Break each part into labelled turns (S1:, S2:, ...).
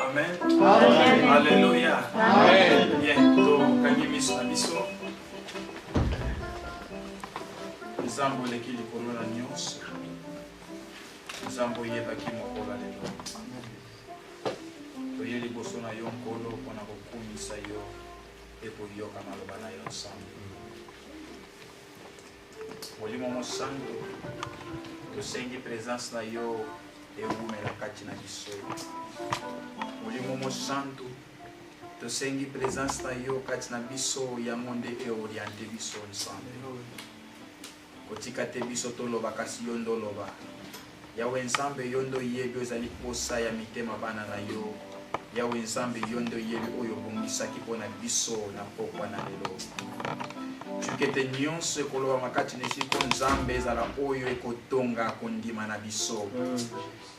S1: Amen. Amen. Alléluia. Amen. Bien, tokangi miso na biso. Nzambe oleki likolo na nyonso. Nzambe oyebaki mokolo ya lelo. Toye liboso na yo Nkolo mpo na kokumisa yo mpe koyoka maloba na yo nsambo. molimo mosantu tosengi presence na yo ewumela kati na biso molimo mosantu tosengi presence na yo kati na biso yango nde eoriente biso nsambe kotika te biso toloba kasi yo ndoloba Yahweh Nzambe yo nde oyebi ozali posa ya mitema bana na yo. Yahweh Nzambe yo nde oyebi oyo obongisaki mpo na biso na pokwa na lelo. Cukete nyonso ekolobama kati na esiko Nzambe ezala oyo ekotonga kondima na biso.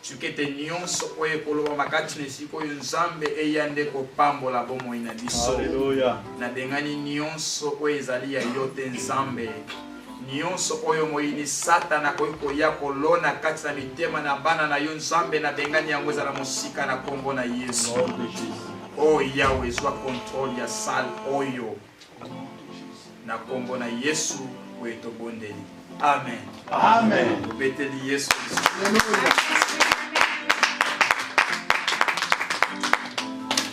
S1: Cukete nyonso oyo ekolobama kati na esiko oyo Nzambe eya nde kopambola bomoi na biso.
S2: Nabengani
S1: nyonso oyo ezali ya yo te Nzambe. Nionso oyo moyini satana akoki koya kolona kati na mitema na bana na yo nzambe na bengani yango ezala mosika na kombo na yesu o oh, yawe ezwa kontrole ya sale oyo na kombo na yesu oyo tobondeli amen amen
S2: obeteli yesu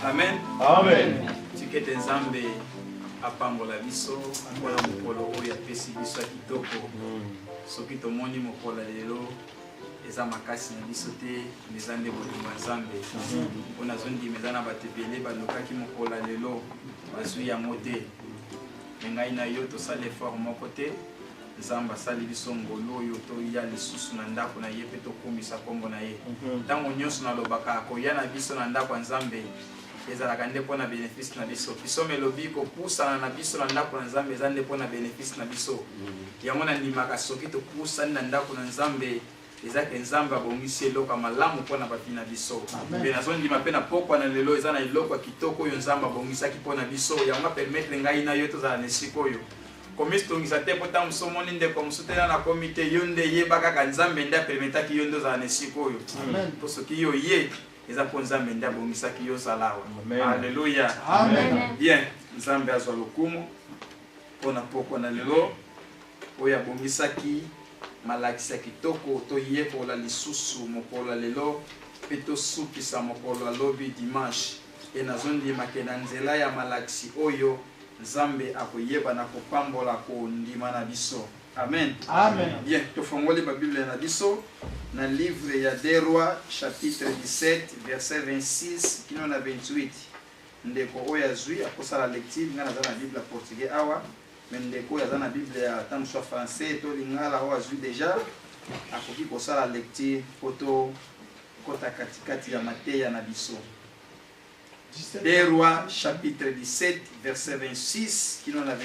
S1: amen amen
S2: tikete nzambe
S1: apambola biso mpo na mokolo oyo apesi biso ya kitoko soki tomoni mokolo ya lelo eza makasi na biso te me eza nde bolingo ya nzambe mpo nazondima eza na bato ebele balukaki mokolo ya lelo bazwi yango te me ngai na yo tosala effort moko te nzambe asali biso ngolu oyo toya lisusu na ndako na ye mpe tokumisa nkombo na ye ntango nyonso nalobaka koya na biso na ndako ya nzambe ezalaka nde mpo na benefisi na biso pisome elobi kopusana na biso na ndako na nzambe eza nde mpo na benefisi na biso mm. yango nandimaka soki topusani na ndako na nzambe eza ke nzambe abongisi eloko ya malamu mpo na bapi na biso mpe nazondima mpe na pokwa na lelo eza na eloko ya kitoko oyo nzambe abongisaki mpo na biso yango apermetre ngai na yo tozala na esika oyo komitungisa te mpo ntango mosusu omoni ndeko mosusu tena nakomi te yo nde yeba kaka nzambe nde apermetaki yo nde ozala na esika oyo mpo soki yo ye eza mpo nzambe nde abongisaki yo ozala awa alleluya bien nzambe azwa lokumu mpo na mpokwa na lelo oyo abongisaki malakisi ya kitoko toyekola lisusu mokolo ya lelo mpe tosukisa mokolo ya lobi dimanche mpe nazondima ke na nzela ya malakisi oyo nzambe akoyeba na kopambola kondima na biso Amen. Amen. Bien,
S2: tofongoli ba
S1: Biblia na biso na livre ya Des Rois chapitre 17 verset 26 kino na 28. Ndeko oyo azwi akosala lecture, ngai naza na Biblia portugais awa, mais ndeko oyo aza na Biblia ya ata mosusu ya français to lingala oyo azwi deja akoki kosala lecture mpo tokota katikati ya mateya na biso. Des Rois chapitre 17 verset 26 kino na 28.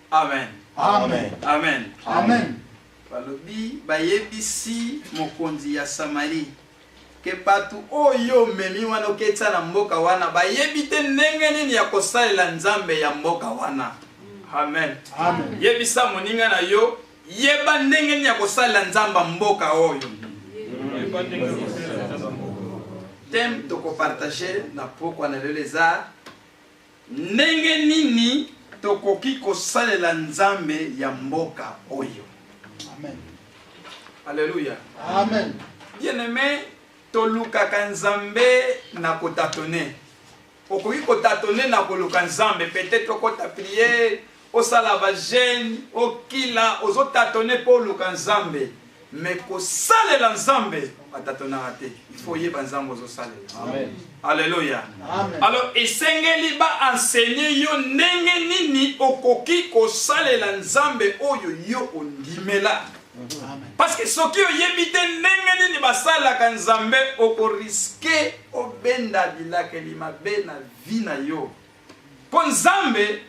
S3: Amen.
S1: Amen.
S3: Amen. Amen. Balobi
S1: bayebisi mokonzi ya Samarie ke bato oyo omemi wana oketisa na mboka wana bayebi te ndenge nini ya kosalela nzambe ya mboka wana amen, amen. yebisa
S3: moninga na
S1: yo yeba ndenge nini ya kosalela nzambe ya mboka oyo teme tokopartage na pokwa na lelo eza Ndenge nini tokoki kosalela Nzambe ya mboka oyo? Amen. Alléluia. Amen.
S3: Bien-aimé,
S1: tolukaka Nzambe na kotatone. Okoki kotatone na koluka Nzambe, peut-être okota prière, Osala ba jeune, okila, ozo tatone mpo oluka Nzambe. Me kosalela Nzambe, batatonaka te. Il faut oyeba Nzambe ozosalela. Amen. Alléluia. Alors
S3: esengeli
S1: ba enseigner yo ndenge nini okoki kosalela Nzambe oyo yo ondimela.
S3: Parce que soki
S1: oyebi te ndenge nini basalaka Nzambe okoriske obenda bilakeli mabe na vie na yo. Mpo Nzambe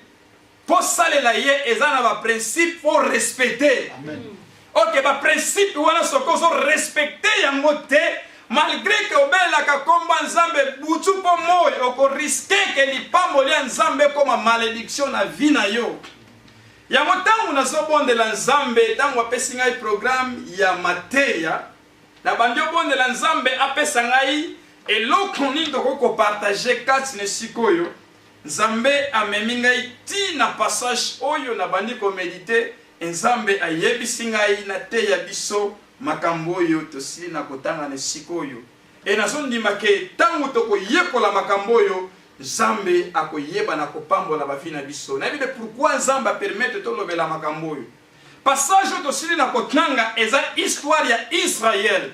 S1: Ko salela ye eza na ba principe fo respecter. Amen.
S3: Ok ba
S1: principe wana soki ozo respecter yango te malgré que obelelaka kombo ya nzambe butu mpo moi okoriske ke lipamboli ya nzambe ekoma malediction na vi na yo yango ntango nazobondela nzambe ntango apesi ngai programe ya mateya nabandi obondela nzambe apesa ngai eloko nini tokoki kopartage kati na esika oyo Nzambe amemi ngai ti na passage oyo na bandi ko medite et nzambe ayebisi ngai na teya biso makambu oyo tosili na kotanga ne sikoyo et nazo ndima ke tangu toko yekola makambu oyo nzambe ako yeba na ko pambola ba vie na biso nayebi te pourquoi nzambe a permettre to lobela makambu oyo passage oyo tosili na kotanga eza histoire ya Israël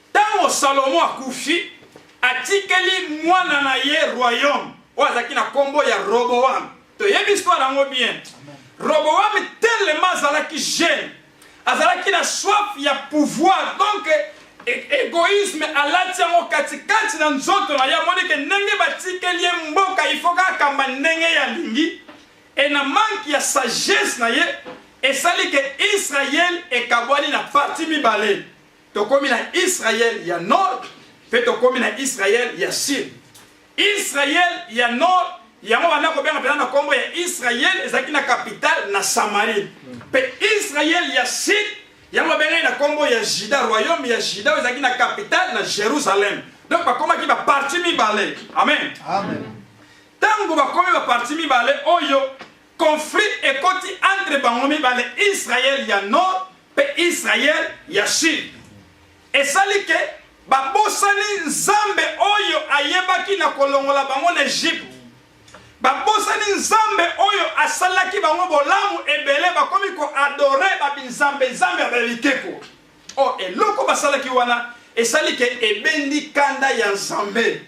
S1: Ntango Salomo akufi, atikeli mwana na ye royaume oyo azalaki na nkombo ya Roboam. Toyebi histoire yango bien. Roboam telema azalaki jeune, azalaki na soif ya pouvoir donc e-, egoisme alati yango katikati na nzoto na ye amoni ke ndenge batikeli ye mboka ifoka akamba ndenge ye alingi e na manke ya sagesse na ye esali ke israel ekabwani na parti mibale Tokomi na Israël ya nord pe tokomi na Israël ya sud. Israël ya nord yango banda kobenga mpenza na nkombo ya Israël ezalaki na capitale na Samarie. Pe Israël ya sud yango babengaki na nkombo ya Juda, royaume ya Juda oyo ezalaki na capitale na Jerusalem. Donc bakomaki ba parti mibale. Amen. Amen.
S3: Tango
S1: bakomi ba parti mibale oyo conflit ekoti entre bango mibale Israël ya nord mpe Israël ya Sud esali ke babosani Nzambe oyo ayebaki na kolongola bango na Egypte babosani Nzambe oyo asalaki bango bolamu ebele bakomi koadore babinzambe nzambe ya babikeko o oh, eloko basalaki wana esali ke ebendi kanda ya Nzambe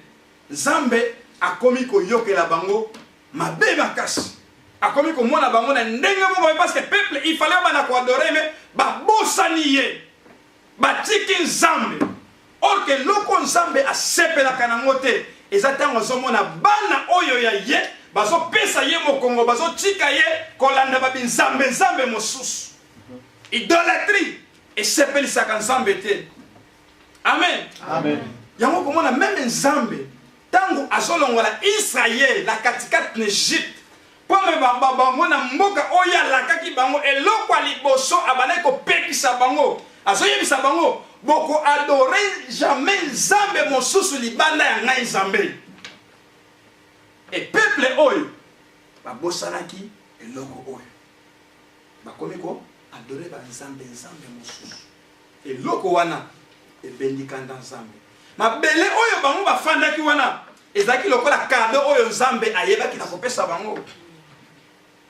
S1: Nzambe akomi koyokela bango mabe makasi akomi komona bango na ndenge moko me parce que peuple il fallait bana koadore me babosani ye batiki nzambe or ke loko nzambe asepelaka nango te eza ntango azomona bana oyo ya ye bazopesa ye mokongo bazotika ye kolanda babinzambe nzambe mosusu idolatrie esepelisaka nzambe te amen, amen.
S2: yango komona
S1: meme nzambe Tango azolongola Israël na katikati na Egypte mpo amema bango na mboka oyo alakaki bango, eloko ya liboso abandaki kopekisa bango, azoyebisa bango, boko adore jamais nzambe mosusu libanda ya ngai Nzambe. E peuple oyo babosanaki eloko oyo bakomi ko adore ba nzambe nzambe mosusu. eloko wana ebendi kanda nzambe mabele oyo bango bafandaki wana ezalaki lokola kado oyo nzambe ayebaki na kopesa bango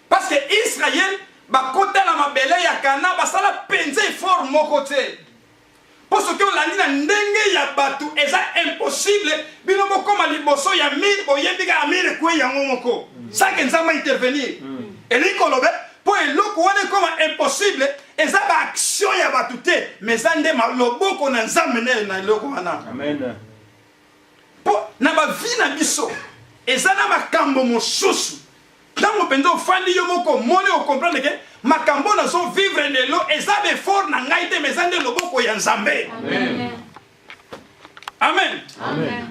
S1: parceke israele bakota na mabele ya kana basala mpenza efort moko te mpo soki olandi na ndenge ya bato eza impossible bino bokoma liboso ya mire boyebi kaka mire ekwe yango moko sake nzambe intervenir mm. elingi kolobe Po eloko wana ekoma impossible eza ba action ya batu te mais eza nde loboko na Nzambe nde na eloko wana. Amen. Po na ba vie na biso eza na makambo mosusu ntango mpenza ofandi yo moko omoni okomprendre ke makambo oyo nazo vivre lelo eza befort na ngai te ma eza nde loboko ya nzambe amen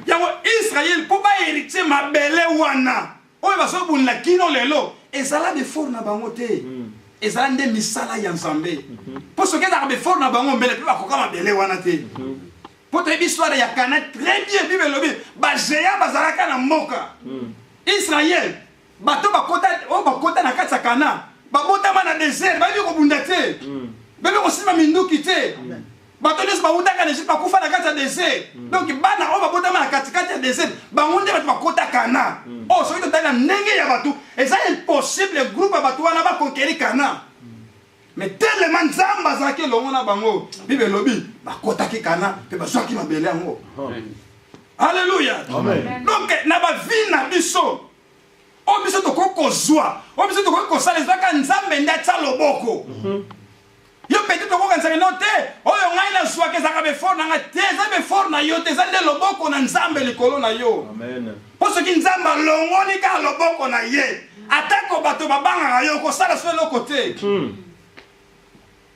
S2: yango israele
S1: mpo baheritier mabele wana oyo bazobundela kino lelo ezala befort na bango te hmm. ezala nde misala ya nzambe hmm. mpo soki ezalaka befort na bango mbele mpe bakoka mabele wana te hmm. mpo toyebi histoire ya kana très bien bible elobi bagea bazalaka na mboka israel bato oyo bakota na kati ya kana babotama na desert bayebi kobunda te bayebi kosimba minduki te bato nyonso bawutaka na egypte bakufa na kati ya desert mm. donc bana oyo babotama na katikati ya desert bango nde bato bakota kana mm. oyo oh, soki totali na ndenge ya bato eza impossible groupe ya bato wana bakonkeri kana mm. me telema nzambe azalaki elongo na bango bible elobi bakotaki kana mpe bazwaki mabele yango alleluya donc na bavie na biso oyo biso tokoki kozwa oyo biso tokoki kosala ezwaka nzambe nde atya loboko mm -hmm. Yo petit okokanisaka no te oyo ngai nazwaka ezalaka befort na ngai te eza befort na yo te eza nde loboko na nzambe likolo na yo mpo soki
S2: nzambe
S1: alongoli kaka loboko na ye atako bato babangaka yo okosala so eloko te hmm.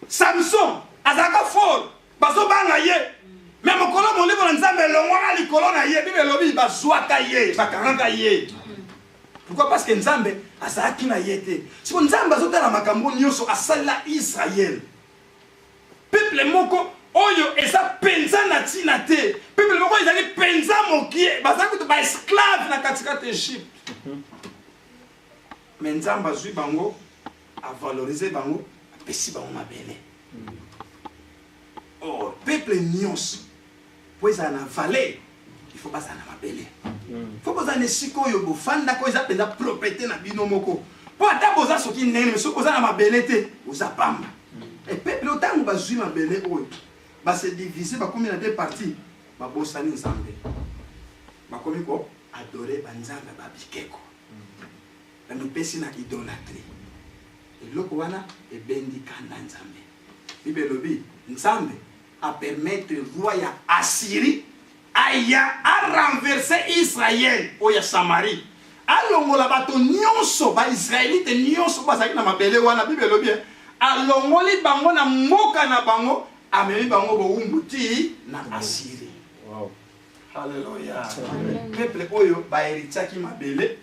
S1: samson azalaka fort bazobanga ye me mokolo molimo na nzambe elongwaka likolo na ye bibe elobi bazwaka ye bakangaka ye Pourquoi? Parce que Nzambe azalaki na ye te. Siko Nzambe azotala makambo nyonso asalela Israël. Peuple moko oyo eza penza na tina te. Peuple moko ezali penza mokie, bazali kutu ba esclave na katikati Egypte. Mais Nzambe azui bango, a valoriser bango, apesi bango mabele. Oh, peuple nyonso mpo ezala na valeur il faut bazala na mabele hmm. fo bozala na esika oyo bofandaka oyo eza mpenza propriété na bino moko mpo ata boza soki ndenge me soki boza na mabele te oza pamba hmm. epeuple ntango bazwi mabele oyo base divise bakomi na deux parti babosani nzambe bakomi ko adore banzambe ba bikeko hmm. bamipesi na idolatrie eloko wana ebendi kanda nzambe bible elobi nzambe a permettre roi ya Assyrie aya a renverser Israël oyo ya Samarie alongola bato nyonso baisraelite nyonso bazalaki na mabele wana bible elobi eh, alongoli bango na mboka na bango amemi bango bowumbu ti na asiri wow.
S2: aleluya
S1: peuple oyo baheritiaki mabele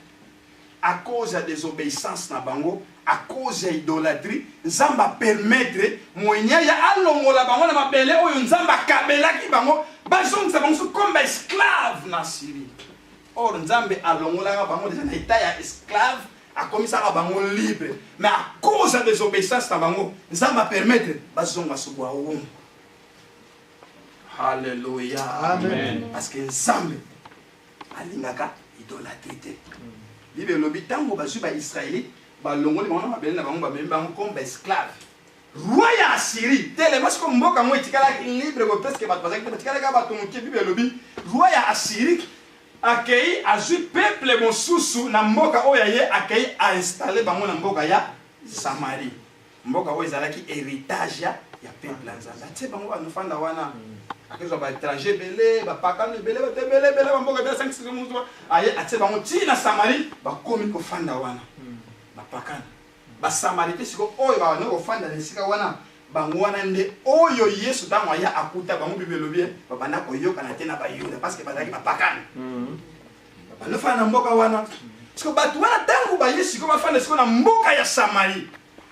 S1: à cause ya desobeissance na bango, à cause ya idolatrie, Nzambe a permettre Mwenye ya alongola bango na mabele oyo Nzambe akabelaki bango, bazongisa bango so comme ba esclave na Syrie. Or Nzambe alongolaka bango deja na etat ya esclave, akomisaka bango libre, mais à cause ya desobeissance na bango, Nzambe a permettre bazonga so bwa wumbu. Hallelujah. Amen. Parce
S2: que Nzambe
S1: alingaka idolatri te bible elobi ntango bazwi baisraelite balongoli bango na mabele na bango bamemi bango comme baesclave roi ya assyrie telema siko mboka yango etikalaki libre bo presque bato bazalaki te batikalaki kaka bato moke bible elobi roi ya assyrie akei azwi peuple mosusu na mboka oyo ya ye akei ainstalle bango na mboka ya samarie mboka oyo ezalaki heritage ya peuple ya nzambe atie bango banofanda wana mm. akozwa baétranger ebele bapakano ebele bato ebele ebele bamboka ebele asangisaki moto aye atie bango ntina na samarie bakomi kofanda wana mm. bapakano basamarite siko oyo bakoki kofanda na esika wana bango wana nde oyo yesu ntango aya akuta bango bibelobi babanda koyokana te na bayuda parceke bazalaki bapakano mm. balofana na mboka wana siko bato wana ntango baye siko bafanda siko na mboka ya samari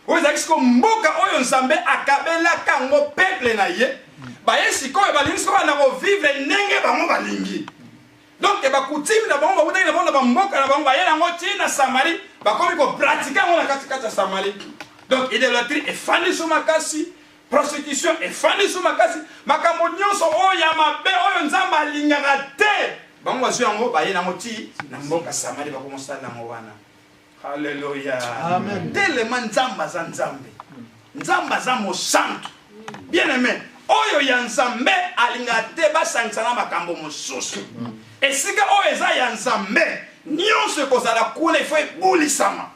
S1: oyo ezalaki siko mboka oyo nzambe akabelaka yango peple na ye baye sikoyo balingi siko bana kovivre ndenge bango balingi donk bakutime na bango bakutaki na bango na bamboka na bango baye nango ti na samari bakomi kopratike yango na katikati ya samari donk idolatrie efandi so makasi prostitution efandi so makasi makambo nyonso oyo ya mabe oyo nzambe alingaka te bango bazwi yango baye nango ti na mboka samari bakomosala nango wana halleluya telema nzambe aza nzambe nzambe aza mosantu bien aime oyo ya nzambe alingaka te basangisa na makambo mosusu esika oyo eza ya nzambe nyonso ekozala kuna ifo ebulisama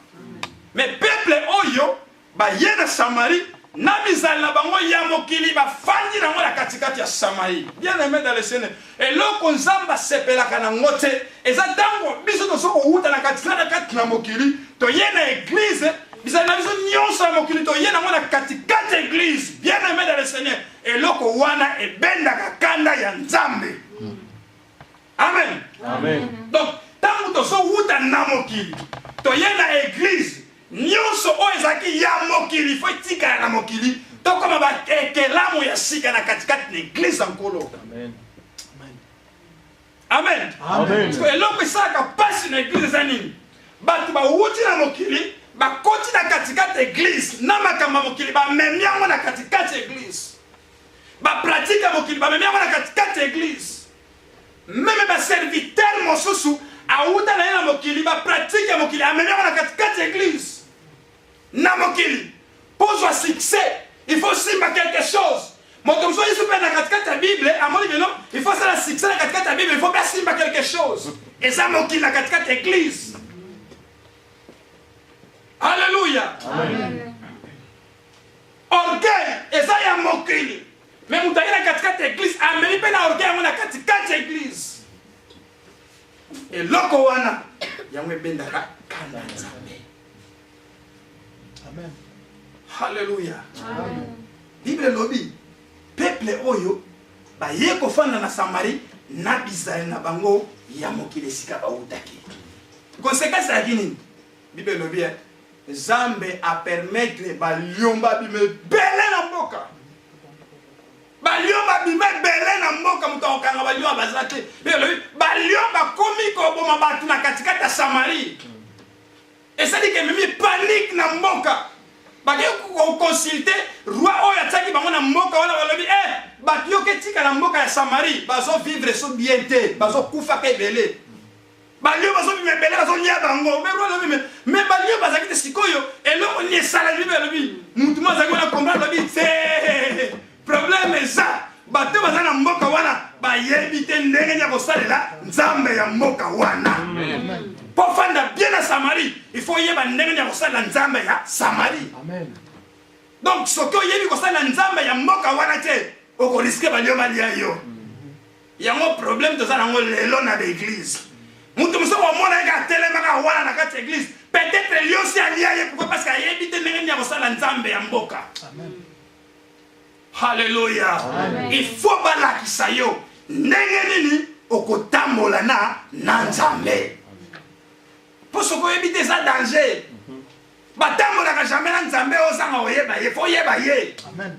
S1: me peple oyo Baye na Samarie na mizali na bango ya mokili bafandi nango na katikati ya Samarie. Bien aime dans le Seigneur, eloko Nzambe asepelaka nango te eza ntango biso tozo kowuta na katikati na kati na mokili toye na eglise bizali na biso nyonso ya mokili toye nango na katikati eglise bien aime dans le Seigneur, eloko wana ebendaka kanda ya Nzambe. amen donc ntango tozowuta na mokili toye na eglize nyonso oyo ezalaki ya mokili fo etikala na mokili tokoma baekelamu ya sika na katikati na eglize ya nkolo amen eloko esalaka mpasi na eglize eza nini bato bawuti na mokili bakoti na katikati eglize na makambo ya mokili bamemi yango na katikati eglize bapratike ya mokili bamemi yango na katikati eglize meme baserviteur mosusu awuta na ye na mokili bapratike ya mokili amemi yango na katikati ya eglise na mokili mpo ozwa succès il faut simba quelque chose moto mosusu yesu mpe na katikati ya bible amoni bino il faut asala succès na katikati ya bible il faut mpe asimba quelque chose eza mokili na katikati ya eglise alleluya orgueil eza ya mokili Mais moto aye na katikati ya eglise amemi mpe na orgueil yango na katikati ya eglise eloko wana yango ebendaka kanda nzambe amen halleluya bible elobi peple oyo baye kofanda na samari na bizali na bango ya mokili esika bautaki konsekansi ayaki nini bible elobi Nzambe a permettre ba lion ba bima ebele na mboka. Ba lion ba bima ebele na mboka moto akokanga ba lion baza te. Ba lion bakomi koboma bato na katikati ya Samarie. Esali ke mimi panique na mboka. Bake kokonsulte roi oyo atiaki bango na mboka wana balobi eh bato yoke etikala mboka ya Samarie bazo vivre so bien te bazo kufaka ebele. balio bazobima ebele bazolia bango me balio bazalaki te sikoyo eloko nini esalaki bibe alobi motu mo azalaki wana komba alobi te probleme eza bato baza na mboka wana bayebi te ndenge nini ya kosalela nzambe ya mboka wana mpo fanda bien na samarie il faut oyeba ndenge nini ya kosalela nzambe ya samarie donc soki oyebi kosalela nzambe ya mboka wana te okoriske balio balia yo yango problème toza nango lelo na l'église moto mosusu akomona yeke atelemaka wana na kati ya église peut-être liosi alia ye pourkoi parce que ayebi te ndenge nini akosala nzambe ya mboka halleluya il faut balakisa yo ndenge nini okotambola na na nzambe mpo soki oyebi te eza danger batambolaka jamais na nzambe ozanga oyeba ye fo oyeba ye Amen.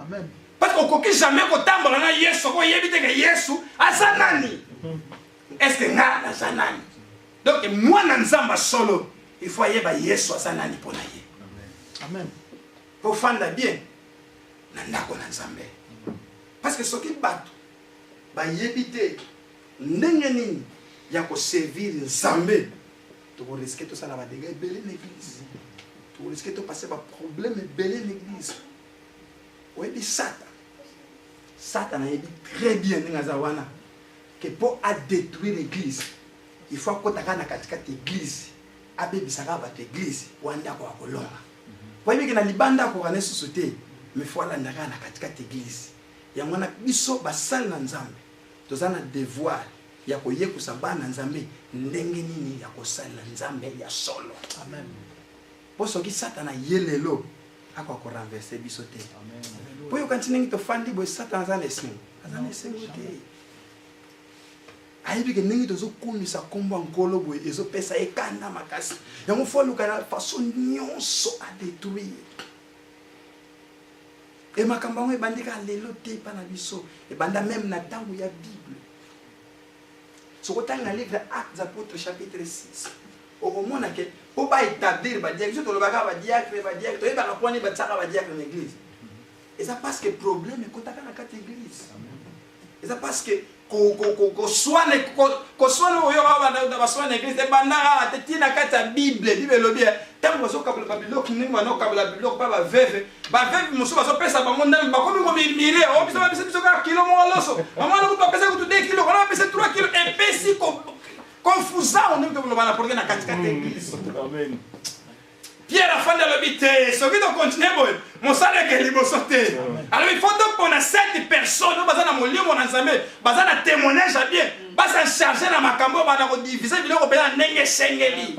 S1: Amen. Parce que okoki jamais kotambola na Yesu soko oyebi te ke Yesu aza nani. Est-ce que nga naza nani? Donc mwana Nzambe solo il faut ayeba Yesu aza nani mpo na ye. Amen. Mpo fanda bien na ndako na Nzambe. Parce que soki bato bayebi te ndenge nini ya koservir Nzambe tokoriske tosala badega ebele na eglise tokoriske topase baproblème ebele na eglise oyebi
S4: sata sata nayebi très bien ndenge aza wana ke mpo adétruire église il faut akotaka na katikati église abebisaka bato église wana ndako ya kolonga oyebi ke na libanda akoka na esusu te mais fo alandaka na katikati église yango wana biso basali na nzambe toza na devoir ya koyekosa bana nzambe ndenge nini ya kosalela nzambe ya solo amen po soki satana ye lelo akoka ko renverse biso te po oyokanisi ndenge tofandi boye satana aza na esengo aza na esengo te ayebi ke ndenge tozokumisa nkombo ya nkolo boye ezopesa ye kanda makasi yango fo aluka na faso nyonso adetruire e makambo yango ebandi kaka lelo te epa na biso ebanda meme na ntango ya bible soki otanga livre acte apôtre chapitre 6 okomona ke mpo baétablir badiacre so tolobaka badiacre badiacre toyebaka mpo wani batiaka badiacre na église eza parce que problème ekotaka na kati église eza parce que koswana koswana oyo babanda baswana na église ebandaka te ti na kati ya bible bible elobi eh, ntango bazokabola babiloko ndenge bana okabola biloko mpa baveve baveve mosusu bazopesa bango ndambi bakomi komimire o oh, biso bapesa biso kaka kilo moko loso mama wana kutu apesa kutu 2 kilo wana bapesa 3 kilo epesi konfusao ndenge tokoloba na porke na katikati eglise pierre afandi alobi te soki tokontinue boye mosala eke liboso te alobi fo topona 7 personne oyo baza na molimo na nzambe baza na témoignage ya bien basa charge na makambo oyo bana kodivise biloko mpenza ndenge esengeli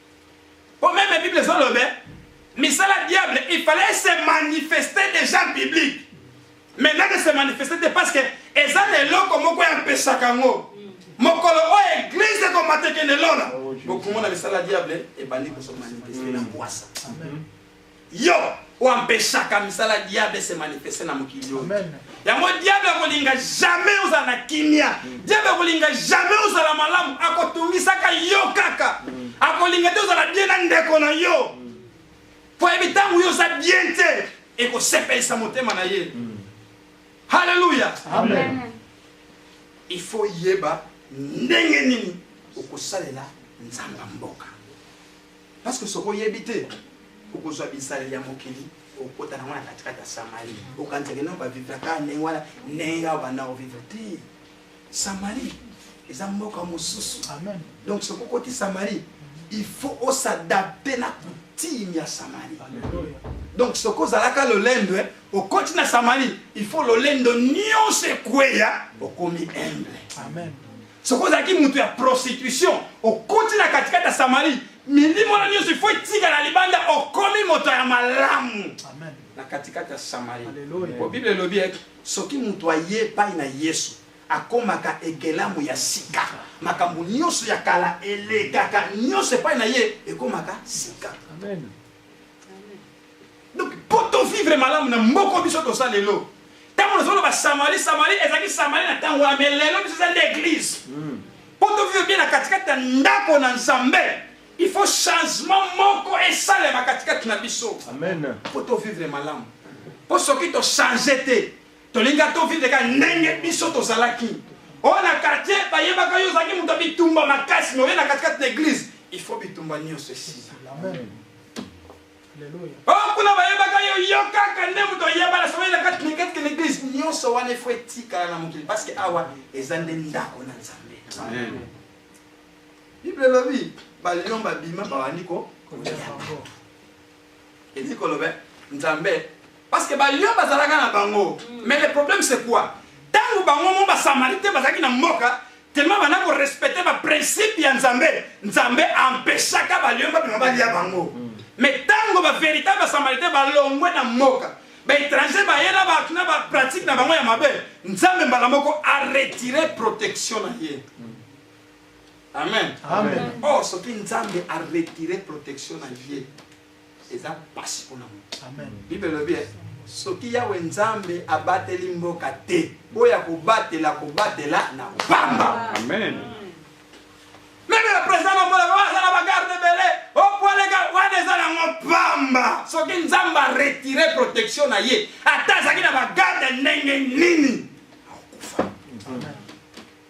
S4: Pour même la Bible est le même. Mais ça, la diable, il fallait se manifester déjà en public. Maintenant de se manifester, parce que les gens les locaux, moi, quoi, un peu sacango. mokolo oyo eglize ekomatekende lola bokumona misala diable ebandi kosomanipeste na bwasa yo oyo ampeshaka misala ya diable se manifeste na mokili oyo yango diable akolinga jamais ozala na kimia mm. diable akolinga jamais ozala malamu akotungisaka yo kaka mm. akolinga te ozala bien na ndeko na yo mm. po yebi ntango yo oza bien te ekosepelisa motema na ye halleluya il faut yeba ndenge nini okosalela nzamba mboka Parce que soki oyebi te okozwa bizaleli ya mokili okota nango na katikati ya samari okanisaki no bavivre kaka ndenge wana ndenge ya banda kovivre te samari eza mboka mosusu donc soki okoti samari il faut osadapte na coutume ya samari donc soki ozalaka lolendo eh, okoti na samari il faut lolendo nyonso ekweya okomi humble Amen. soki ozalaki moto ya prostitution okoti na katikati ya samari milimo wana nyonso ifo etikala libanda okomi moto ya malamu na katikati ya samari po bible elobi ete soki moto aye epai na yesu akomaka ekelamu ya sika makambo nyonso ya kala elekaka nyonso epai na ye ekomaka sika donc po to vivre malamu na mboko biso tosa lelo ntango nazomona basamali samali ezalaki samali na ntango wana me lelo biso eza nde eglise hmm. po to vivre bien na katikati ya ndako na nzambe il faut changement moko esalema katikati na biso po to vivre malamu po soki tochange te tolinga to vivre ka ndenge biso tozalaki oyo na quartier bayebaka yo ozalaki moto ya bitumba makasi me oye na katikati na eglise il faut bitumba nyonso esila Oh, kuna bayebaka yo yo kaka nde moto oyebana soki na kati na kati na eglise nyonso wana efo etikala na mokili parce que awa eza nde ndako na nzambe bible elobi balion babima bawandi ko elingi koloba nzambe Parce que ba lion bazalaka na bango. Mais le problème c'est quoi? Tango bango mo ba samaritain bazaki na mboka tellement bana ko respecter ba principe ya Nzambe. Nzambe empêchaka ba lion ba bima ba lia bango. Mais tango ba véritable ba samaritain ba longwe na mboka. Ba étranger ba yela ba tuna ba pratique na bango ya mabe. Nzambe mbala moko a retirer protection na ye. Amen. Amen. Oh, soki Nzambe a retirer protection na ye. eza pasi mpona moto bible elobi eh, soki
S1: yawe nzambe abateli mboka te oyo ya kobatela kobatela na pamba
S4: meme
S1: le président namonaka aza na bagarde ebele opoleka oh, wana eza nango pamba soki nzambe aretire protection na ye ata azalaki na bagarde ndenge nini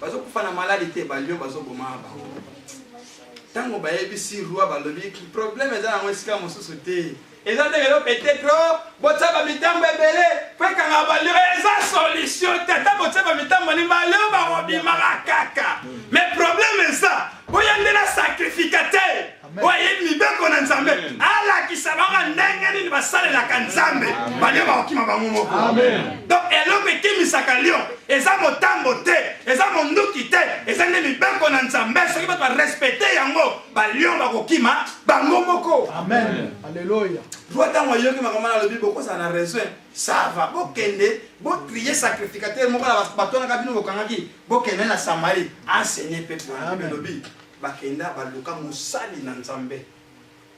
S1: bazo kufa na maladi te ba lion bazo boma bango ntango bayebisi roi balobi problème eza nango esika mosusu te eza ndenge yo peut-être oh, botya bamitambo ebele mpo ekanga balio eza solution te ata botya bamitambo ni balio bakobimaka kaka mais problème eza boya nde na sacrificateur oyo ayebi mibeko na nzambe alakisa bango ndenge nini basalelaka nzambe balio bakokima bango moko donc eloko ekimisaka lio eza motambo te eza monduki te eza nde mibeko na nzambe soki bato barespecte yango balio bakokima bango moko aleluya
S3: roi ntango ayoki
S1: makambo na alobi bokozala na raison sava bokende botrie sacrificateur moko na batonaka bino bokangaki bokende na samarie enseigner peuple elobi Bakenda baluka mosali na Nzambe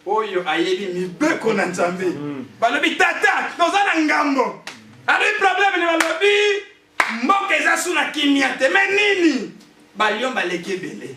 S1: oyo ayebi mibeko na Nzambe. Mm. Balobi tata, toza na ngambo. Alobi problème ni balobi mboka eza su na kimia te. Mais nini? Balion baleki ebele.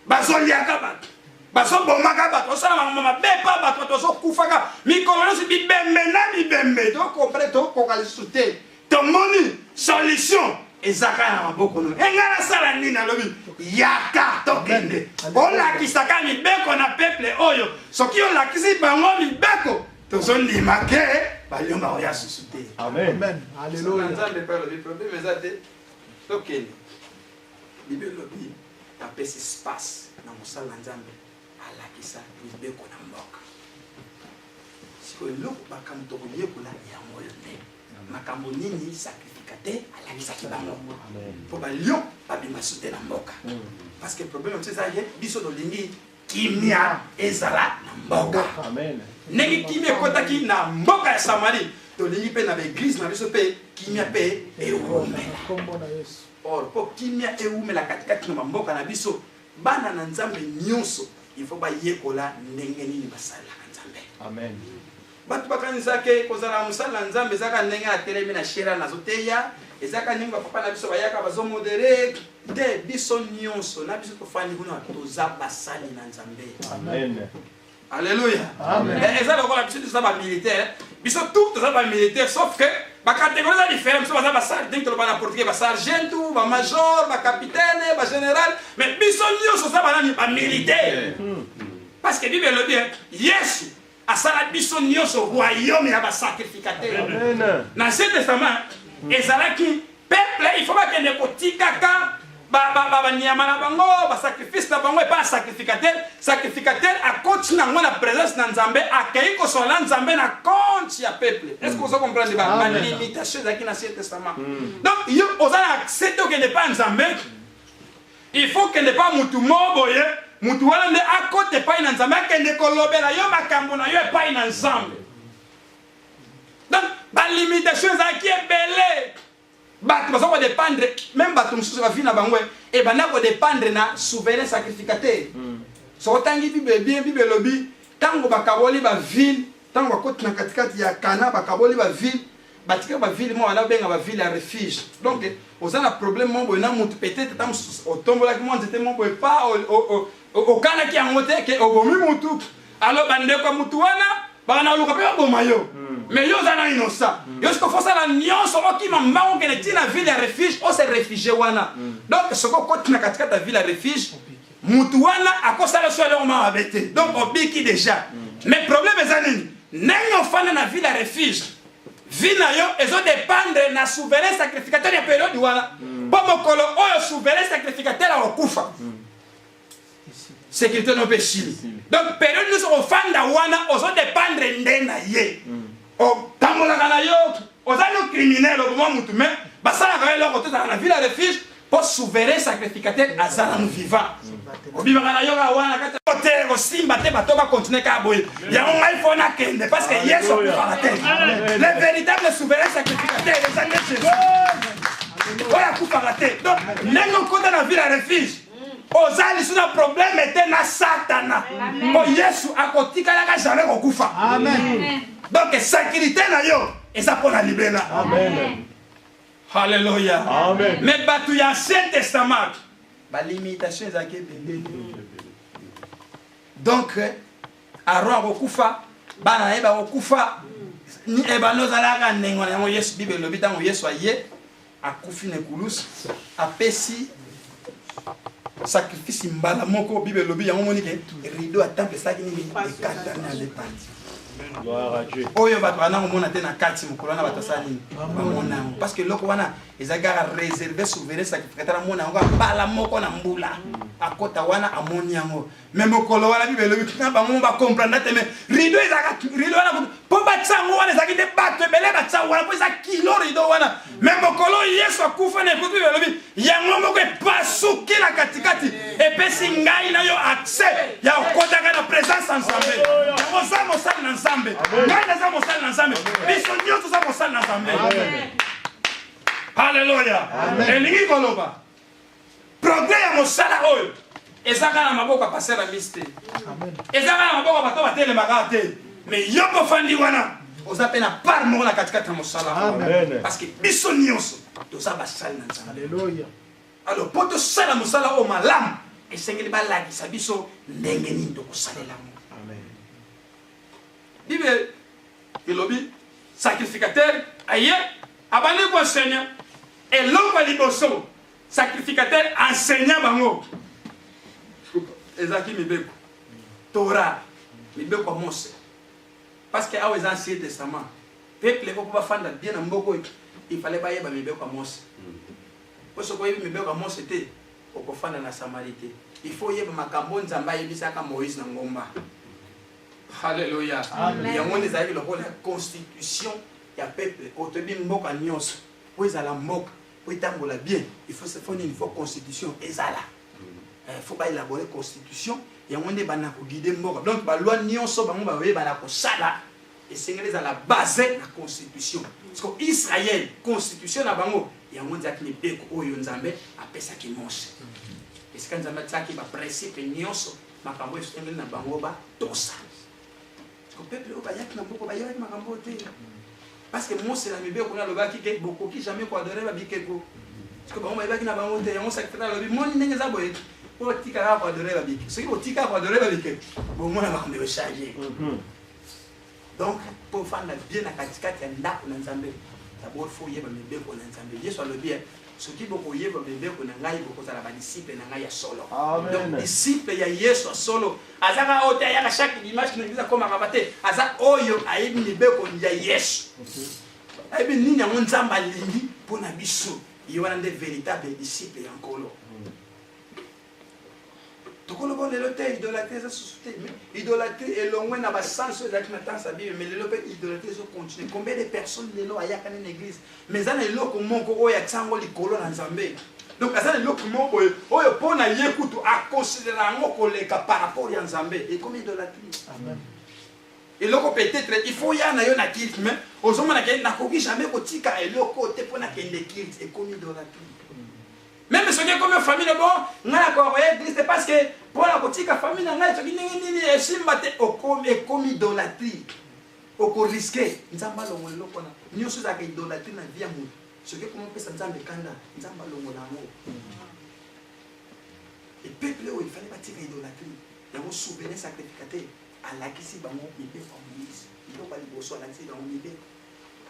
S1: Bazoliaka bato. bazobomaka bato osala makambo mabe mpa bato tozokufaka mikolo nyonso bibembe na bibembe tokompre tokoka lisusu te tomoni solution ezaka na maboko no enga nasala nini alobi yaka tokende olakisaka mibeko na peple oyo soki olakisi bango mibeko tozondima ke balionga oya susu te nzambe pe
S3: alobi probleme
S1: eza te tokende bibelobi apesi space na mosala na nzambe alakisa mibeko na mboka sikoyo eloko makambo tokoyekola yango oyo nde makambo nini sacrificateur alakisaki bango mpo balio babima sute na mboka parce que problème mosusu eza ye biso tolingi kimia ezala na mboka ndenge
S2: kimia
S1: ekotaki na mboka ya samarie tolingi mpe na baeglize na biso mpe kimia mpe ewumela or mpo kimia ewumela katikati na bamboka na biso Bana na Nzambe nyoso il faut bayekola ndenge nini basalelaka Nzambe. Amen.
S2: Bato
S1: bakanisa ke kozala mosala na Nzambe ezaka ndenge na telemi na shera nazoteya ezaka ndenge bapapa na biso bayaka bazomodere te biso nyonso na biso tofandi kuna toza basali na Nzambe. Amen.
S2: Alléluia.
S1: Amen. Eh, eza
S2: lokola biso toza
S1: ba militaire, biso tout toza ba militaire sauf que ba catégorie eza différent, biso baza ba sergeant toloba na portugais ba sergeant, ba major, ba capitaine, ba général, mais biso nyonso toza ba nani ba militaire. Hmm. Parce que Bible elobi hein, Yesu asala biso nyonso royaume ya ba sacrificateur. Na Ancien
S2: Testament
S1: hmm. ezalaki Peuple il faut bakende kotikaka banyama na bango basacrifice na bango epai ya sacrificateur sacrificateur akoti na yango na présence na nzambe akei kosala na nzambe na compte ya peuple est ce que oza comprendre balimitation ezalaki na ancien testament mm. donc yo oza na accès te okende epai ya nzambe il faut okende epai ya motu moo boye motu wana nde akota epai na nzambe akende kolobela yo makambo na yo epai na nzambe donc ba limitation ezalaki ebele bato baza kodépendre meme bato mosusu bavi na bango ebanda eh, kodépendre na souverain sacrificateur hmm. soko otangi bible bien bible elobi ntango bakaboli bavile ntango bakoti na katikati ya kana bakaboli bavile batika bavile moko wana obenga bavile ya refuge donc oza na problème moko boye na motu peut-être ata mosusu otombolaki mwa nzete moko boye pa okanaki yango te ke obomi mutu alors bandeko ya mutu wana bakanaluka mpe baboma yo hmm. mais yo oza na innocent hmm. yo soki ofosala nyonso okima mbango okende ti na ville ya refuge ose refugie wana hmm. donc soki okoti na katikati ya ville ya refuge mutu wana akosala so eloko ma mabe te donc obiki déjà mais problème eza nini ndenge ofanda na ville ya refuge vie na yo ezodépendre na souverain sacrificateur ya periode wana mpo mokolo oyo souverain sacrificateur akokufa sécurité no mpe esili donc periode nyonso ofanda wana ozo dépendre nde na ye mm. otambolaka
S4: na yo oza no criminel oboma motu mais basalaka yo eloko tozala na ville refuge mpo souverain sacrificateur aza nanu vivant obimaka na yo kaka wana kati te kosimba te bato bakontinue kaka boye yango ngai mpo nakende parce que yesu akufaka te le véritable souverain sacrificateur eza nde jésus oyo akufaka te donc ndenge okota na ville ya refuge oza lisu na probleme te na satana mpo yesu akotikalaka jamai kokufa donk sekirite na yo eza mpo na libela halleluya me bato
S2: ya ancien
S4: testament balimitation ezalaki ebele donk aron akokufa bana na ye bakokufa ebanda ozalaka ndenge na yango yesu bible elobi ntango yesu aye akufi na ekulusu apesi sacrifice mbala moko bible elobi yango moni ke rideau ya temple esalaki nini ekatani ale parti oyo bato bana komona te na kati mokolo wana bato asala nini bamona yango parce que eloko wana ezali kaka réserve souverain sacrificateur amona yango mbala moko na mbula akota wana amoni yango me mokolo wana bible elobi na bango ba comprendre te me rido ezalaka rido wana mpo batisa yango wana ezalaki nde bato ebele batisa yango wana mpo eza kilo rido wana me mokolo yesu akufa na ekutu bible elobi yango moko epasuki na katikati epesi ngai na yo accès ya kokotaka na présence ya nzambe yango oza mosali na nzambe ngai naza mosali na nzambe biso nyonso oza mosali na nzambe halleluya elingi koloba progrès ya mosala oyo eza kaka na maboko ya paster amis te eza kaka na maboko ya bato batelemaka te me yoko ofandi wana oza mpe na part moko na katikati ya mosala parce que biso nyonso toza basali na nzambe alors mpo tosala mosala oyo malamu esengeli balakisa biso ndenge nini tokosalela yango bible elobi sacrificateur aye abandi koenseigne eloko ya liboso sacrificateur enseigne bango ezalaki mibeko tora mibeko ya mose parce que awa eza ancien testament peuple eko mpo bafanda bien na mboka oyo il fallait bayeba mibeko ya mose mpo soki oyebi mibeko ya mose te okofanda na samari te il faut oyeba makambo nzambe ayebisaka moïse na ngomba Hallelujah. Amen. Yango nde ezalaki lokola constitution ya peuple oyo toyebi mboka nyonso mpo ezala mboka mpo etambola bien il faut se faut nini faut constitution ezala il faut baelabore constitution yango nde bana koguide mboka donc balwa nyonso bango baye bana kosala esengeli ezala base na constitution parceque israel constitution na bango yango ezalaki mibeko oyo nzambe apesaki mose esika nzambe atiaki baprincipe nyonso makambo esengeli na bango batosa siko peuple oyo bayaki na mboka bayebaki makambo oyo te parce que mose na mibeko kuna alobaki te bokoki jamais koadore babikeko siko bango bayebaki na bango te yango sakitata alobi moni ndenge eza boye po otika kaka koadore babikeko soki otika koadore babikeko bomona makambo ekochange mhm. donc mpo ofanda bien na katikati ya ndako na nzambe dabord fo oyeba mibeko na nzambe yesu alobi eh, soki bokoyeba mibeko na ngai bokozala badisiple na ngai ya solo donc disiple ya yesu ya solo aza kaka oyo te ayaka chaque dimanche na biza koma kaba te aza oyo ayebi mibeko ya yesu ayebi nini yango nzambe alingi mpo na biso ye wana nde véritable disiple ya nkolo tokoloba lelo te idolatrie eza susu te mais idolatrie elongwe na basanso ezalaki na temps ya bible mais lelo mpe idolatrie ezocontinue combien de personnes lelo ayaka nde na église mais eza na eloko moko oyo atia yango likolo na nzambe donc aza na eloko moko boye oyo mpo na ye kutu akonsidera yango koleka par rapport ya nzambe ekomi idolatrie eloko peut-être il faut ya na yo na kilte mais ozomona ke nakoki jamais kotika eloko te mpo nakende kilte ekomi idolatrie Meme soki ekomi famille bo nga na ko ya église te parce que pour la kotika famille na ngai soki ndenge nini esimba te okomi ekomi idolatrie oko risquer nzambe alongo eloko na nyonso ezalaka idolatrie na vie ya moto soki ekomi opesa nzambe kanda nzambe alongo na yango epeuple oyo efali batika idolatrie yango souverain sacrificateur alakisi bango mibeko ya moise biloko ya liboso alakisi bango mibeko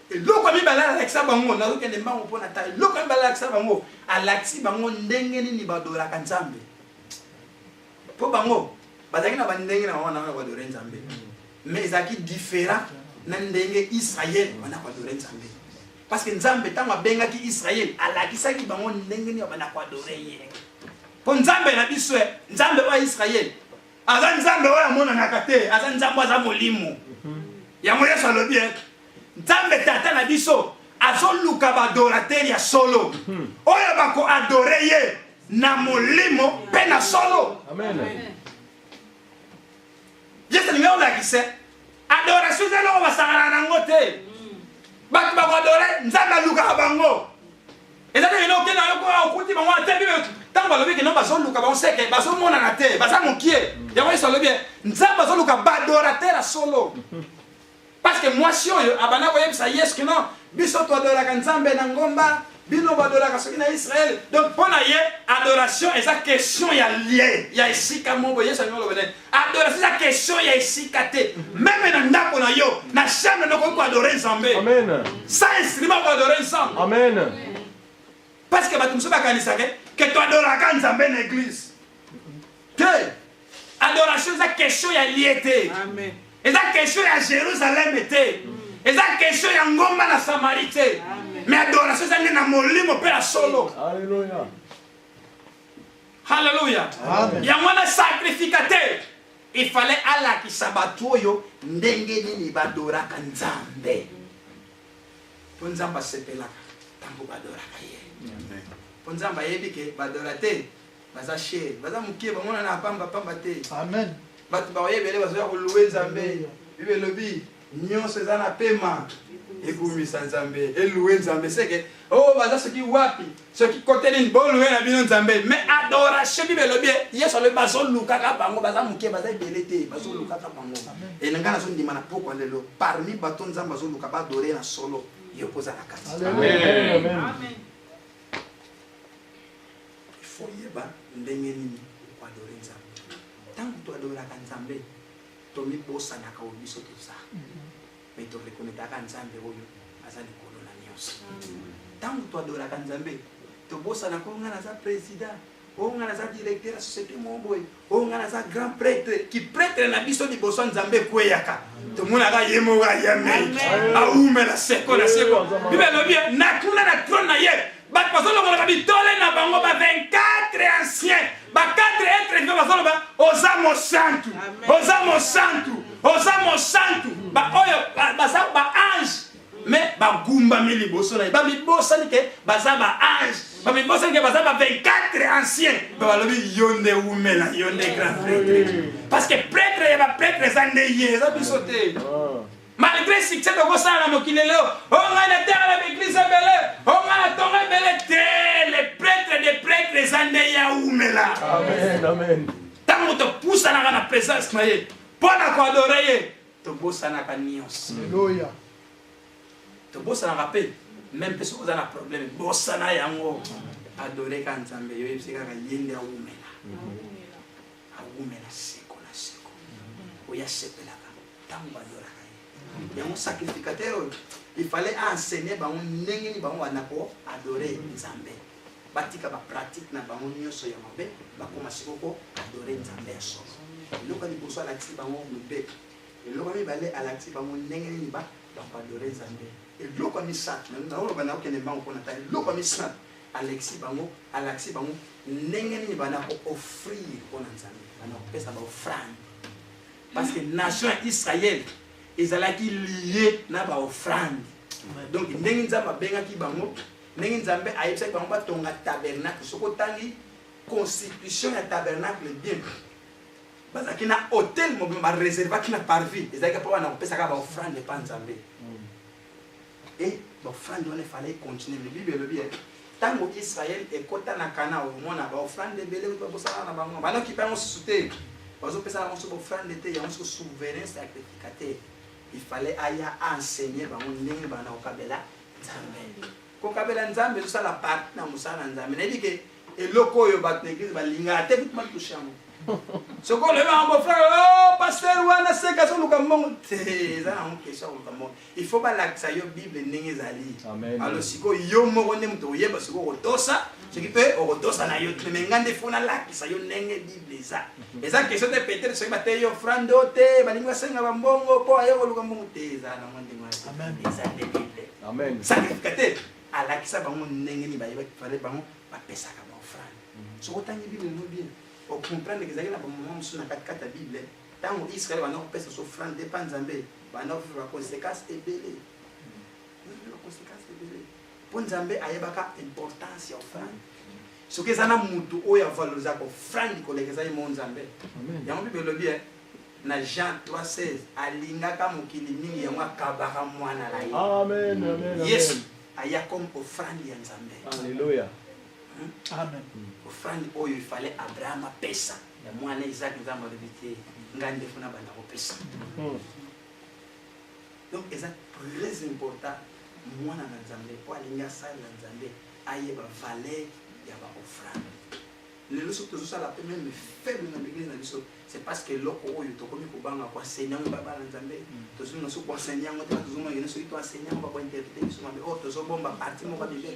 S4: eloko ya mibale alakisa bango nazokende mbango mpo na ta eloko ya mibale alakisa bango alakisi bango ndenge nini badolaka nzambe mpo bango bazalaki na bandenge na bango na wana badore nzambe mais ezalaki différent na ndenge israel wana badore nzambe parce que nzambe ntango abengaki israel alakisaki bango ndenge nini bana koadore ye mpo nzambe na biso nzambe oyo ya israel aza nzambe oyo amonanaka te aza nzambe aza molimo yango yesu alobi ye eh, nzambe tata na biso azoluka baadoratere ya solo hmm. oyo bakoadore ye na molimo mpe na solo yesu alingi olakisa adoration eza eloko basangana nango te hmm. bato bakoadore nzambe alukaka bango eza ndenge oke na yo koya okuti bango wana te bibe ntango balobi kino bazoluka bango seke bazomonana te baza mokie yango yesu alobi nzambe azoluka badorater ya solo parce que mwasi oyo abanda koyebisa yesu kino biso toadoraka nzambe na ngomba bino badolaka soki na israel donc mpo na ye adoration eza question ya lie ya esika moko yesu alingi oloba nini Adoration eza question ya esika te. Meme na ndako na yo, na chambre na okoki koadore Nzambe. Amen. Sans
S2: instrument
S4: koadore Nzambe. Amen. Parce que bato mosusu bakanisaka ke toadoraka Nzambe na eglise. Te. Adoration eza question ya lie te. Amen. Eza
S5: question ya
S4: Jerusalem te. Eza question ya ngomba na Samarie te. Amen. Mais adoration eza nde na molimo mpe na solo. Alléluia. Haleluya. Yango wana sacrificateur il fallait alakisa bato oyo ndenge nini badoraka Nzambe. Mpo Nzambe asepelaka ntango badoraka ye. Mpo Nzambe ayebi ke badora te baza shere, baza moke, bamonana pamba pamba te. Amen. Bato
S3: baoye ebele
S4: bazoya koluwe Nzambe. Bible elobi nionso eza na pema ekumisa nzambe eloue nzambe seke o oh, baza soki wapi soki kote nini boloue na bino nzambe me adoration bible elobi yesu alobi bazolukaka bango baza moke baza ebele te bazolukaka bango elinga nazondima na pokwa lelo parmi bato nzambe azoluka badore na solo yo mpoza na kati
S2: ifo
S4: yeba ndenge nini okoadore nzambe ntango toadoraka nzambe Tomibosanaka oyo biso toza, mais to reconnaitaka Nzambe oyo aza likolo na nyonso. Tango to adoraka Nzambe, tobosanaka oyo nga naza president, oyo nga naza directeur ya societe moko boye, oyo nga naza grand prêtre. Ki prêtre na biso liboso ya Nzambe ekweyaka. Tomonaka ye moko ayamei, awumela seko na seko. Biblia elobi ye, natuna na trone na ye, bato bazolongolaka bitole na bango ba 24 ancien ba 4 etre viva bazoloba oza mosantu oza mosantu oza mosantu baoyo baza baange me bagumbami liboso na ye bamibosani ke baza baange bamibosani ke baza ba 24 ancien ba balobi yo nde wumela yo nde grand pretre parce que pretre ya bapretre eza nde ye eza biso te ah. Malgre succès tokosala na mokili lelo, o oh, ngai natala na baeglise ebele, o oh, ngai natonga ebele te, le pretre de pretre eza nde ya umela. Amen, amen.
S2: Ntango topusanaka
S4: na presence na ye mpo na koadore ye, tobosanaka nyonso. Aleluya. Tobosanaka mpe meme mpe soki oza na problème bosana yango adoreka nzambe yo yebisi kaka ye nde awumela awumela seko na seko oyo asepelaka ntango bayolaka ye yango sacrificateur oyo ifale aenseigne bango ndenge nini bango bana ko adore nzambe batika bapratique na bango nyonso ya mabe bakoma siko ko adore nzambe ya solo eloko liboso alakisi bango mibeko eloko mibale alakisi bango ndenge nini bakoadore nzambe eloko ya misato naoloba naokende mbango mpo na ta eloko ya misato Alekisi bango, alakisi bango ndenge nini bana ko offrir mpo na Nzambe, bana kopesa ba offrande parce que nation ya Israël ezalaki liye na ba offrande. Donc ndenge Nzambe abengaki bango, ndenge Nzambe ayebisaki bango batonga tabernacle, soki otangi constitution ya tabernacle bien bazalaki na hotel mobimba bareservaki na parvis ezalaki mpo bana kopesaka baofrande epa nzambe mm. Eh, bafrande wana efalaki continue me bible elobi ye ntango israel ekota na kana omona baofrande ebele kutu bakosala na bango banoki bango susu te bazopesa bango so baofrande te yango so souverain sacrificateur ifale aya aenseigne bango ndenge banakokabela nzambe Kokabela Nzambe ezosala parti na mosala na Nzambe. Nayebi ke eloko oyo bato na eglise balingaka te kutu batushe yango. Soki olobi yango bofrere, oh pasteur wana seka azoluka mbongo te, eza yango kesho akoluka mbongo. Il faut balakisa yo Bible ndenge ezali. Alo sikoyo yo moko nde moto oyeba soki okotosa soki mpe okotosa na yo te me ngai nde fo nalakisa yo ndenge bible eza mhm. eza question te peut-être soki bateyi yo frando te balingi basenga bambongo mpo aye koluka mbongo te eza nango ndenge eza nde bible Amen. Sacrificateur alakisa bango ndenge nini bayebaki fale bango bapesaka baofrande. Mhm. Soki otangi Bible no bien, okomprendre ezalaki na bamama mosusu na katikati ya Bible ntango Israel banda kopesa so ofrande epa Nzambe banda kofika baconsequence ebele mhm. baconsequence
S1: ebele mpo Nzambe ayebaka importance ya ofrande soki eza na motu oyo avalorisaka ofrande koleka ezali mo Nzambe yango Bible elobi eh, na Jean 3:16 alingaka mokili mingi yango akabaka mwana na ye. Amen, amen, amen. Yesu
S2: aya
S1: comme offrande ya Nzambe. Alléluia.
S2: Hmm?
S3: Amen. Offrande
S1: oyo ifale Abraham apesa ya mwana Isaac Nzambe alobi te nga nde funa banda kopesa. Hmm. Donc eza très important mwana na Nzambe po alingi asalela Nzambe ayeba valeur ya ba offrande. Lelo soki tozo sala pe meme faible na eglise na biso, c'est parce que eloko oyo tokomi kobanga ko enseigner yango ba bana Nzambe, tozo linga soki ko enseigner yango te, tozo mona soki to enseigner yango ba ko interpreter biso mabe. Or tozo bomba partie moko ya Biblia.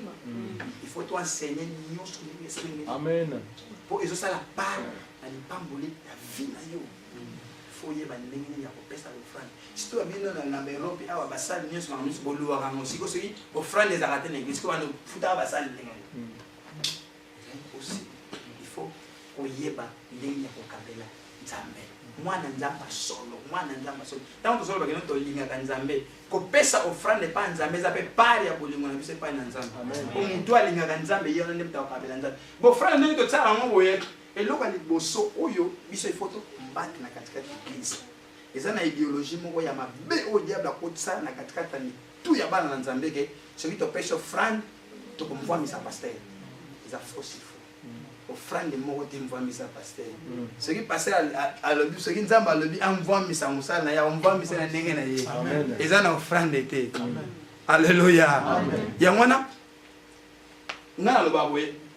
S1: Il faut to enseigner nyonso ndenge esengeli. Amen. Po
S2: ezo sala
S1: part na lipamboli ya vie na yo. Faut oyeba ndenge nini ya kopesa l'offrande. Surtout ya bino na na Europe awa basali nyonso makambo nyonso boluwaka yango. Sikoyo soki offrande ezalaka te na eglise, sikoyo bana futaka basali ndenge nini? Aussi, il faut koyeba ndenge ya kokabela nzambe mwana nzambe solo mwana nzambe solo ntango tozoloba kino tolingaka nzambe kopesa ofrande epai nzambe eza mpe pari ya bolingo na biso epai na nzambe po motu alingaka nzambe ye wana nde moto akokabela nzambe bofrande ndenge totyaka yango boye eloko ya liboso oyo biso ifo tokombate na katikati ya eglise eza na ideologie moko ya mabe oyo diable akotisa na katikati ya mitu ya bana na nzambe ke soki topesi ofrande toko mvwamisa pasteur eza fausse info ofrande moko te mvwamisa pasteur mm. soki pasteur alobi soki nzambe alobi amvwamisa mosala na ye amvwamisa na ndenge na ye eza na ofrande te alleluya yango wana ngai naloba boye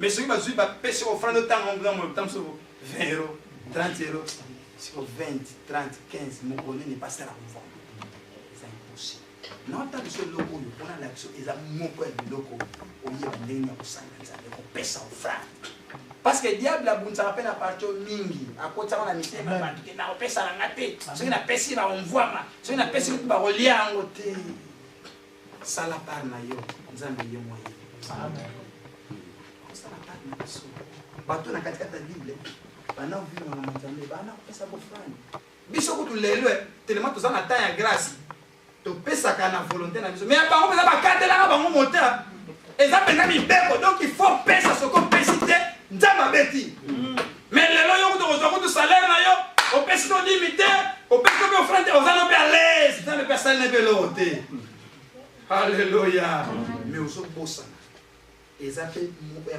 S1: Mais soki bazui ba pesi ko frando tango mbula mo tango so 20 euros 30 euros siko 20 30 15 moko nini passer la conforme naotala biso eloko oyo mpona na biso eza moko ya biloko oyeba ndenge ya kosanga nzambe kopesa ofrande parce que diable abundisaka mpe na parti oyo mingi akotisaka na mitema ya bato te nakopesa na nga te soki napesi bakomvwama soki napesi bakolia yango te Sala part na yo, Nzambe ye moyen. Amen. Sala part na biso. Bato na kati kati ya Bible, bana vivre na Nzambe, bana pesa bofrani. Biso kutu lelo, eh, telema toza na temps ya grâce. Topesaka na volonté na biso. Mais ya bango pesa bakatelaka bango mota. Eza pena mibeko, donc il faut pesa soko pesi te, Nzambe abeti. Mm. Mais lelo yo kutu kozwa kutu salaire na yo opesi no dimi te opesi no pe offrande te oza no pe à l'aise nzambe pe asali na pe eloko te alleluya mais ozobosana eza pe moko ya